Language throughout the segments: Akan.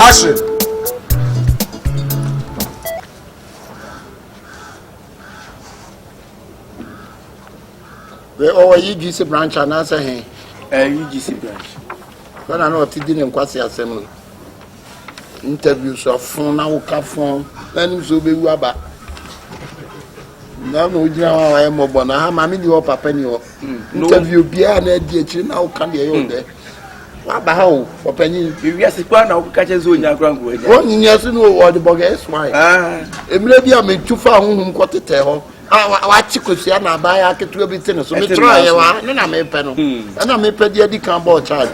Action. Wɛ ɔwɔ yi GC branch anaasɛ hɛn? Ɛɛ yi GC branch. Bɛna na ɔte di ne nkwasi asɛm no. interview so afon na woka fon na nim sɛ wobɛwu aba na na ogyina hɔ a wayɛ mmɔbɔ na ha maame ni hɔ papa ni hɔ hmm. interview biara na adi akyiri na woka deɛ ɛyɛ ɔdɛ waba ha o ɔpanyin wiase kora na woka kyɛ sɛ ɔnya kora nkoa nya wɔnyinya so no ɔde bɔgɛ ɛsy ah. mmerɛ bi a metu fa honhom kɔ tetɛ hɔ a wakye kosua na abaayɛ aketewa bi te ne so metrɔyɛ wa ne na mepɛ no hmm. ɛna mepɛ deɛ adi kan bɔɔ charge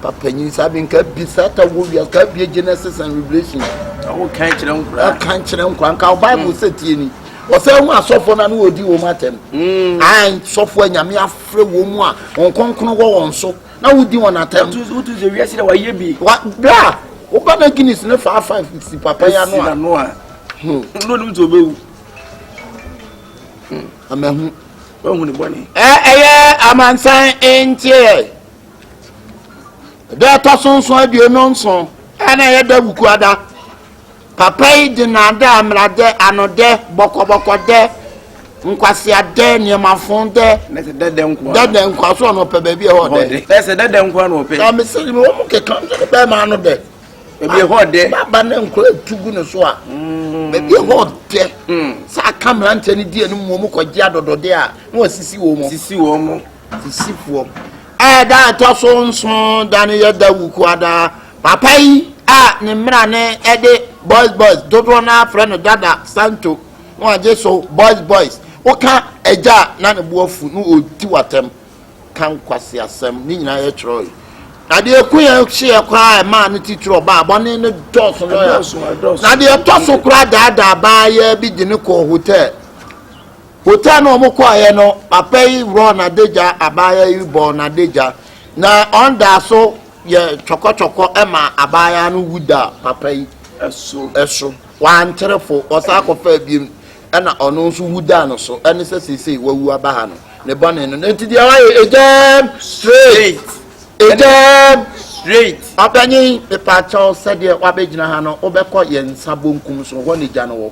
papa nyi saa bi nka bi saa ta wɔ wia nka bi genesis and revelation ɔwɔ kan kyerɛ nkura kan kyerɛ nkura nka bible sɛ tie ni ɔsɛ ho asɔfo na no wɔdi wɔn atɛm an sɔfo anyame afrɛ wɔn mu a wɔn kɔnkɔn wɔ wɔn so na wɔdi wɔn atɛm wotu sɛ wiase dɛ wayɛ bi wa bra woba na guinness ne fa afa si papa ya no a no a no nim sɛ ɔbɛwu amahu wahu ne bɔne ɛyɛ amansan nteɛ Da a ɛtɔ so nson aduonu nson a na ɛyɛ da wukuada papa yi de naadaa mmeradɛ anodɛ bɔkɔbɔkɔdɛ nkwaseadɛ nneɛmafo dɛ dɛdɛ nkwa so ɔno ɔpɛ baabi ɛhɔ dɛ ɛsɛ dɛdɛ nkwa na ɔpɛ na mesɛ me wɔ mo keka nso ne bɛrima ano dɛ baabi ɛhɔ dɛ baba ne nkora atu gu ne so a mm. baabi ɛhɔ dɛ mm. sɛ aka mmeranteɛ no di anim wɔ mu kɔgye adɔdɔdeɛ a na wɔasisi wɔ mu sisi wɔ mu Fisifoɔ. Ɛda a ɛtɔ so nson da no yɛ da wukuadaa. Papa yi a ne mmara no ɛde boys boys dodoɔ no afrɛ no dada santo na wagye so boys boys. Woka agya a na ne bo afu na ɔdi w'atɛm ka nkwasi asɛm ne nyinaa yɛ twerɛ yi. Na deɛ ɛko yɛ hyeɛ koraa a ɛmaa no titiri ɔbaa bɔne no dɔɔso lɔya. Na deɛ ɛtɔ so koraa daadaa baa yɛ bi de no kɔɔ hotel. Hotel no a wɔkɔeɛ no, papa yi worɔɔ n'adagya, abaayewa yi bɔɔ n'adagya, na ɔdaa so yɛ twɔkɔtwɔkɔ ma abaayewa no wu da papa yi so. so. Wantere fo, ɔsan kɔfaa biom, ɛna ɔno nso wu daa no so. Ɛne sɛ seesei wawu aba ha no, ne bɔne no. Enti deɛ wayɛ, egyam straight. Egyam straight. Ɔpanyin, mepaakyɛw sɛdeɛ wabɛgyina ha no, wobɛkɔ yɛn nsa bonkum so, hɔ na egya no wɔ.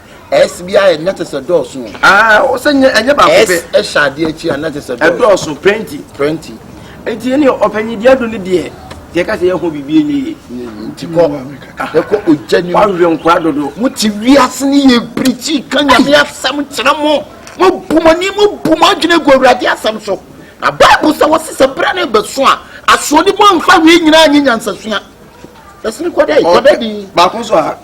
S bi ayɛ na kyɛ sɛ dɔɔso. Aa ah, ɔsɛ nyɛ ɛnyɛ baako pɛ. S ɛhyɛ adeɛ akyi a na kyɛ sɛ dɔɔso. Ɛdɔɔso pɛnti. Pɛnti. Nti ɛni ɔpɛnyi deɛ do ne deɛ deɛ kasa yɛ ho biribi enye yie. Nti kɔ ɛkɔ ogya ni mu. Wahwɛ nkwa dodo. Mo ti wiase ni yɛ pirikyi ka nyame asɛm kyerɛ mo. Mo bu mo ni mo bu mo adwene gu awurade asɛm so. Na baibu sɛ wɔsi sɛ bere ne bɛso a asoɔdi mu anfa wei nyinaa nye nyansasua. Ɛsini kɔdɛ kɔdɛ di. Baako so a.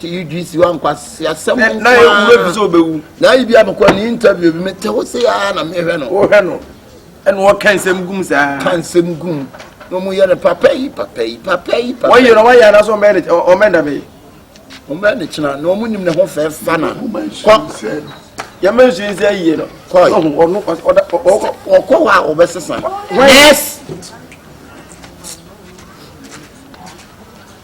ti yi dwi si wa nkwasi asɛm nkwaa na yɛ wura bi sɛ ɔbɛwu na ayi bi amekɔ ne interview bi me tɛ wo se aa na mehwɛ no wohwɛ no ɛna wɔka nsɛm gum saa ka nsɛm gum na ɔmo yɛ no papa yi papa yi papa yi papa yi wɔyɛ no wɔyɛ anaso ɔmɛ ne ɔmɛ da bɛyi ɔmɛ ne kyena na ɔmo nim ne ho fɛ fa na kɔ yɛmɛ nsu nsa yie no kɔ ɔno ɔda ɔkɔ ɔkɔ hɔ a ɔbɛsesa yes.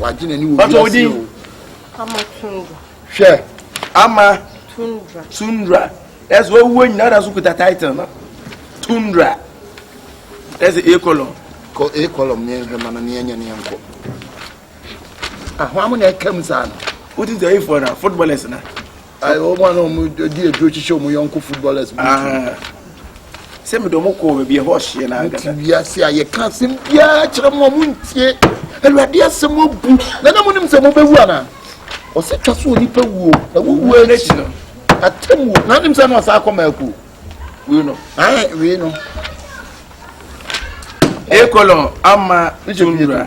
wagye n'ani wɔ bi ase o. ama tundra. hwɛ ama tundra tundra ɛsɛ owó nyina da so kuta title no tundra ɛsɛ a column. kɔ a column ne nhwɛ ma no ne ɛnyɛ ne nkɔ ahoa mo na ɛka mu saa no. wotu sɛ eyi fɔ na footballers na. Ayi wɔn a na wɔn di aduro kyekyɛ wɔn yɔnko footballers bi ti. Sɛ mi dɔn mo kɔ baabi ɛhɔ ɔhyeɛ na agada. Ti wiase a yɛ ka asɛm biara kyerɛ mo a mo ntie awurade asɛm obu na na mo nim sɛ mo bɛ wu ana ɔsɛ twa so onipa wuo na wo wuo akyi no atam wuo na nim sɛ na ɔsɛ akɔ mako wei no ayi wei no. Ekolon ama tunura.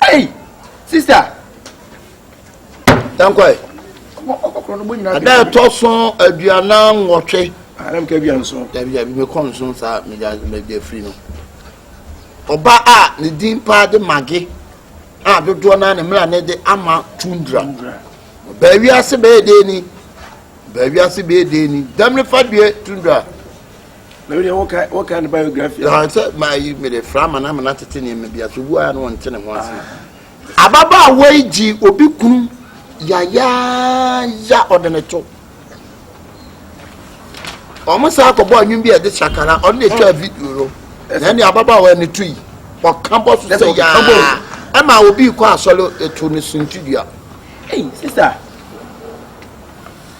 Hey, sister. Tankwai. Ada ɛtɔ so aduanan nwɔtwe. Adam ka aduan nson. Dabi dabi mekɔ nson saa megya megya firi no. Ɔba a ne din paa de mage a dodoɔ naa ne mmerɛ ne de ama tundra. Baawi ase bɛyɛ dee ni. Baawi ase bɛyɛ dee ni. Dɛm ne fa due tundra. Na wei deɛ woka woka ne biography. Na sɛ maa yi mi de fra amana amana tete nneɛma bi ase obu a na ɔnte ne ho ase. Ah. Ababaawa yi gye obi kunu yayaaya ɔde ne to. Wɔn saa akɔbɔ anwum bi a ɛde sakara ɔno na etwa video no. Na ɛne ababaawa ne to yi ɔka bɔ so sɛ yaa ɛma obi kɔ asɔre eto ne suntidua. Hey sister.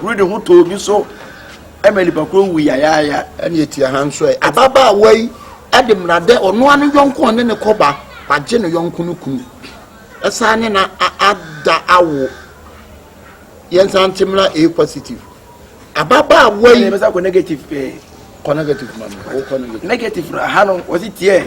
huri ne ho tɔ obi so ma nipa koro wu yayaaya ɛne etia ha nso ɛ ababaawa yi ɛde mmara dɛ ɔnoa ne yɔnko ɔne ne kɔba wagye ne yɔnko no kunu ɛsan ne na ada awo yɛnsan te mmara a positive ababaawa yi ɛbɛsa kɔ negative pɛɛ kɔ negative ma no kɔ negative negative ha no wɔsi tiɛ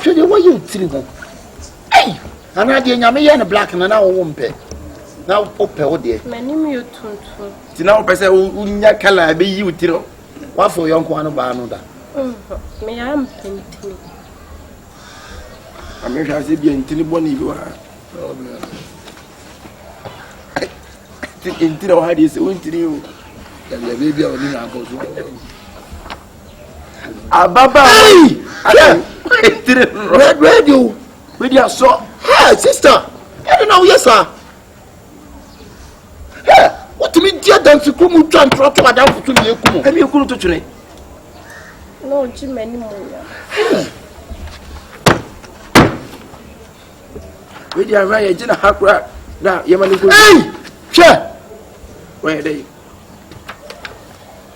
hwɛ deɛ wɔyɛ otiri ho ei anaa deɛ nyame yɛ no black na na wɔwɔ mpɛ na wopɛ wo deɛ m'anim yɛ tuntum nti na wopɛ sɛ wonya kala a ɛbɛyi wo tiri woafo yɔnko ano baa no da meyɛ ampɛ ntini amehwɛ ase bia ntini bɔne bi wɔ ha ntini wɔ ha deɛ sɛ wontini o dabidabi bia ɔne na akɔ so ababaawa yi ayɛ tiri rɛdrɛdi o bɛ di asɔ. ɛ sista ɛdi na woyɛ saa ɛ wotumi di adansi kuro mu twa ntorɔ to adanfo so deɛ eku mu. ɛmi ekunu to twene. na ɔgye m'ani mu nya. wei di ahwɛ yɛ gye na ha kura na yɛ ma ne nkuru. ɛyi hwɛ. wɔyɛ dɛ yi.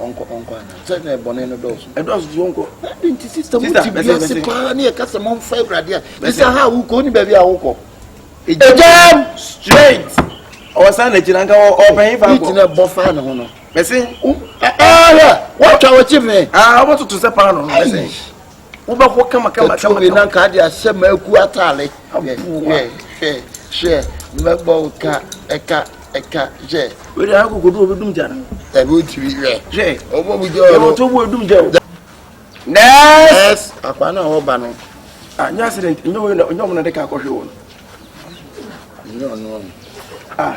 ɔnkɔ ɔnkɔ ana sɛ na bɔne no dɔɔso ɛdɔɔso so ɔnkɔ ɛde nti sista mo ti bi ase paa ne ɛka sɛ momfa awurade a ɛsɛ ha a wokɔ ne baabi a wokɔ ɛgyam straight ɔwɔ saa na gyina nka ɔpɛn fa kɔ ɛtina bɔ faa ne ho no mɛse ɛhɛ wɔtwa wɔkye me ɔbɛtoto sɛ paa no no mɛse wobɛhɔ kamakama ɛtu obi na nka de ahyɛ maaku ataale hwɛ hwɛ hwɛ mɛbɔ wo ka ɛka ɛka hwɛ wei de akokodu obi dum gya no ɛbi otumi hwɛ hwɛ ɔbɔ mu gya ɔno yɛwɔ to bu odum gya o nɛɛs akwa no a wɔba no ah nyɛ accident nyɛ wei na nyɛ ɔmo na de ka akɔhwe wɔn nyɛ ɔno ah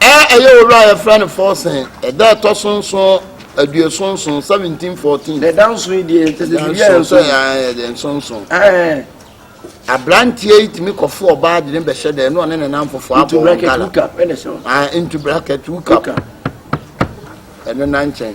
A Ɛyɛ owura a yɛfrɛ no Forsen, ɛda a ɛtɔ so nson, aduoson nson, seventeen fourteen. Na ɛda nson yi deɛ kyɛ sɛ biribi a ɛnso yi. ɛda nson nson. Ɛɛ. aberanteɛ yi tumi kɔfo ɔbaa de ne bɛhyɛ dɛ ɛno ɔne ne nan fofoɔ abɔ wɔn gala. Into bracket hookup. Into bracket hookup. Ɛno na nkyɛn.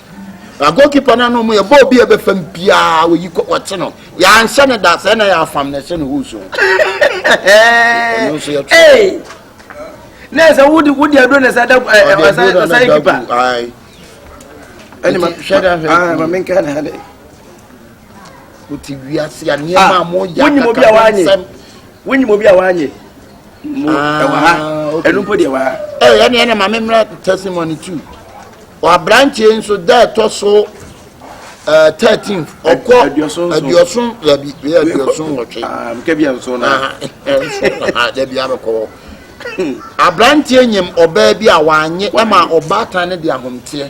na goalkeeper no ano mu yɛ bɔɔl bi a ɛbɛfa mu biara wɔyi kɔ wɔte no yɛanhyɛ no da sɛ na yɛafam na ɛhyɛ no hoo so ɔno nso yɛtwe na ɛsɛ wode wode aduro na ɛsɛ da ɔsan kipa ɛne ma hwɛ da hwɛ ma menka ne ha dɛ wote wiase a nneɛma a moyɛ akakasɛm wonyim obi a wanyɛ mu ɛwɔ ha ɛnu mpo deɛ ɛwɔ ha. ɛyɛ ɛna ɛna maame mmerɛ testimony tu wabranteɛ nso da ɛtɔ so eh, thirteen ɔkɔ aduoson dabi bɛyɛ aduoson wɔtwe. kɛbi ɛnso na. dabi abɛkɔ hɔ abranteɛ nyim ɔbaa bi a wanye ɛma ɔbaatan ne de ahomteɛ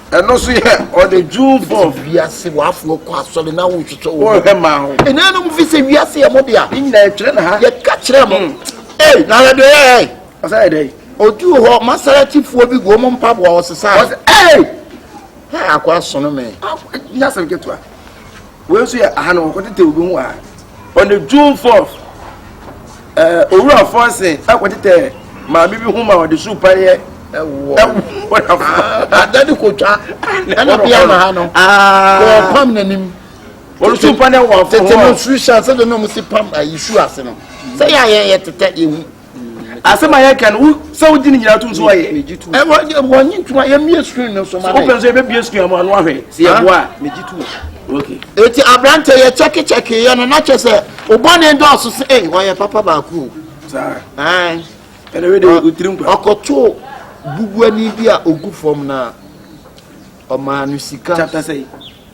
Ɛno nso yɛ ɔde June four. Sɛ wiase wafoɔ kɔ asɔre na wohwehwɛ wɔn. Wɔhwɛ maa ho. Ɛnanom fi sɛ wiase yɛ mo dea. Ne nyinaa ɛtwerɛ na ha. Yɛka kyerɛ mo. Hmm. Ei na yɛde yɛ ɛ. Ɔsɛ yɛde yi. Odu hɔ masaratifoɔ bi gu wɔn mpaboa ɔsesa. Ɔsɛ ei. Ha akɔ asono me. Nyasɛm ketewa. Wei nso yɛ aha na wɔkɔtetɛ obi ho aha. On the June 4th, eh, Owura Fɔnsen akɔtetɛ maame bi ho ma ɔde su paneɛ ada ne kotwa ɔbea na ha no wɔpam n'anim ɔresu paneɛ wɔ afɔ hɔ tete no su hyɛ sɛ de na ɔmo si pam ayi su ase no sɛ yɛ a yɛn yɛ tetɛ yɛ hu. asɛm a yɛka no sɛ wogye ne nyinaa tom so ayɛ wɔnye ntom a yɛmmie screen no so ma no wopɛ so yɛbɛbie screen ama ano ahwɛ sɛ yɛboa a megye tom eti aberante yɛ kyɛkekyɛke yɛ no na kyɛ sɛ obɔne dɔɔso sɛ ei ɔyɛ papa baako ɔkɔtoo bubuani bi a ogu fam na ɔmaa no sika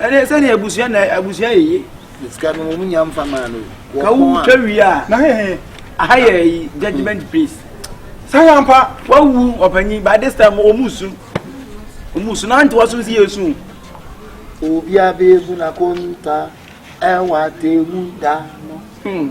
ɛne sɛdeɛ abusua na abusua yɛ ye sika no wɔn nya nfa maa no ka wo twa wie a na hehe aha yɛ yi judgement hmm. place saa yɛ mpa wawu ɔpanyin by this time wɔn su wɔn su na ante wɔn so si yɛ su. obi abeebu na konta ɛwɔ atemu da no. Hmm.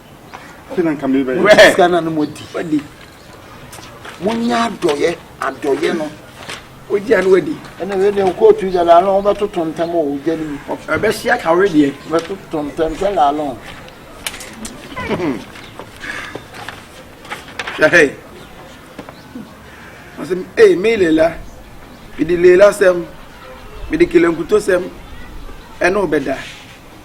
Afei na nka mebɛyɛ. Mo de sika na no mo adi. Wadi. Mo nyɛ adɔyɛ adɔyɛ no. O di ano wadi. Ɛna wei deɛ kóòtù yɛ laalɔn wọ́n bɛ to tɔntɛm o gya ni mu. Ɛbɛ si aka wei deɛ. Bɛ to tɔntɛm sɛ laalɔn. Hwɛ ɔsɛ ee mi lela mede lela sɛm mede kelenkuto sɛm ɛne wobɛda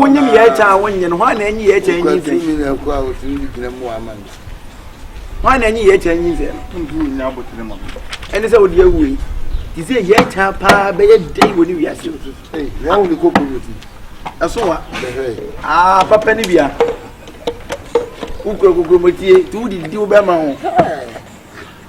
wonyim yɛ agya a wonnye no hwan na enyi yɛ agya nyi mfiri mi na ɛkɔ a otumi de gyina mu ama no hwan na enyi yɛ agya nyi mfiri no ntumi nya abotire ma no ɛne sɛ wode awu yi te sɛ yɛ agya paa bɛyɛ dɛn wɔ ne wiase hwan wo ne koko no ti ɛso wa aa papa ne bia wokura kokomotie nti wodidi wobɛma ho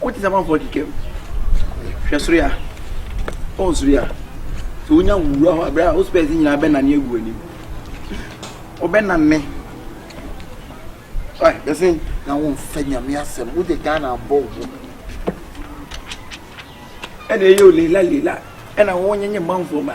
Wote sɛ amanfoɔ kekam. Hwɛ soro yi a. Ɔn soro yi a. Sɛ wonya wura hɔ abere a wo spɛs nyinaa bɛnane agu w'anim. Wobɛnane. Ɔɛ yɛse na womfa nyame asɛm wode Ghana abɔ wo ho. Ɛna ɛyɛ o lela lela. Ɛna wonyenye manfoɔ ma.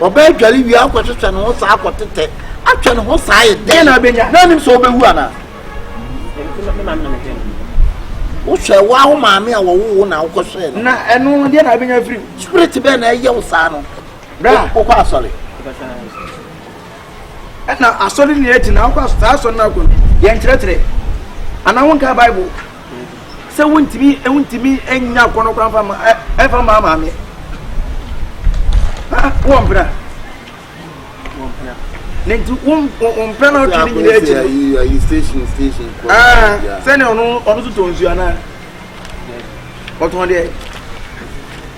Ɔbɛdware wie akɔhwehwɛ ne ho saa akɔtetɛ atwɛ ne ho saa yɛ dɛn na abɛnya na anim sɛ ɔbɛwu anaa wohwɛ wo awo maame a wɔwo wo na wokɔhwɛ no na ɛno no deɛ na abɛnya firi spirit bɛɛ na ɛyɛ wo saa no wokɔ asɔre ɛna asɔre ne agyina wokɔ saa asɔre no akɔ no yɛnkyerɛkyerɛ anaa wonka bible sɛ wontumi wontumi nya akɔnɔ kwan fa ma ɛfa ma maame ah wɔn mpira wɔn mpira ne nti wɔn wɔn mpira na ɔtwe ne nyinaa akyi ayi ayi station station kɔ aa sɛnea ɔno ɔno so tɔ nsuo anaa ɔtɔn deɛ.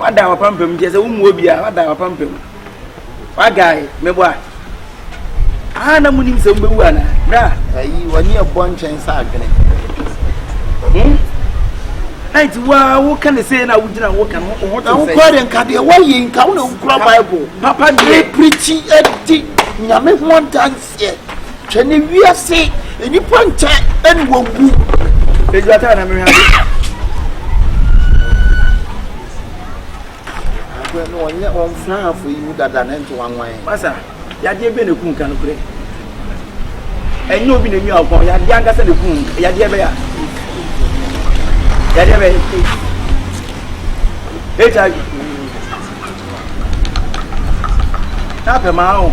wada wapampam nti ɛsɛ womu obiara wada wapampam wagae mebɔ a aha na munim sɛ mobɛwu ana berɛ a ayi wɔne ɛbɔ nkyɛn sɛ adwene hmm? na nti woa woka ne sei na wogyina woka no wo ho te sɛ wokɔ de nka deɛ woayɛ nka wo na wokura bible papa deɛ prikyi adi nyame ho adanse aseɛ hwɛ ne wiase nnipa nkyɛ ɛne wɔwu ɛdwata na mehwɛ ade ɔnyɛ ɔmfra hafo yi mu dada ne nto wanwan masa yadeɛ bɛ ne ku nka nokorɛ ɛnyɛ obi na nwi akɔn yadeɛ ankasa ne ku yadeɛ bɛyɛ yadeɛ bɛyɛ hiv na apɛ maa o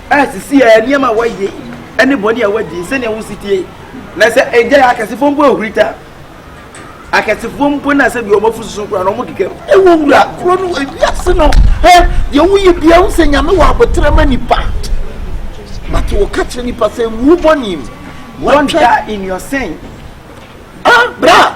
A Sisi ara, nneɛma a wɔayɛ yi ne bɔne a wɔadi, sɛnea wo setie na sɛ egyae akɛsefoɔ mpo ahurita, akɛsefoɔ mpo na sɛ deɛ wɔn afu soso koraa na wɔn keka mu. Ɛwɔ wura korɔ no wɔ wiase no hɛ, deɛ woyɛ biara wo sɛ Nyame wɔ aboterɛ ma nipa. But wɔka kyerɛ nipa sɛ ngu bɔne mu. Don't die in your sin. Ah, bra!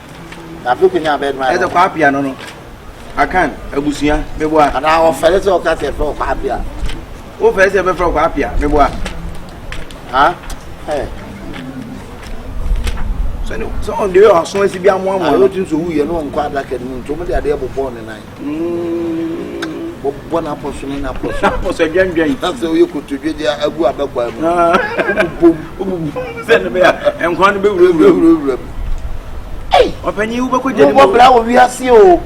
ɛsɛ kwaapia no no akan abusua meboa anaa wɔfɛre sɛ ɔka sɛ ɛfrɛ kwaapia wofɛre sɛ ɛbɛfrɛ kwaapia meboa sɛ ɔde ɔso asi bi amoamoa wotumi sɛ wuyɛ ne ɔnkɔ adaka no mu nti ɔmde adeɛ bobɔɔ ne nan bɔbɔ n'apɔso ne n'apɔso n'apɔso adwandwan na sɛ oyɛ kotodwe de agu abɛkwa mu wobobom wobobom sɛ ne bɛyɛ nkwa no bɛwurawura mu wura mu ei ɔpanyin wobɛkɔ gya ne mu wobɔ bra wɔ wiase o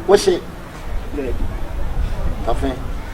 wohye tafe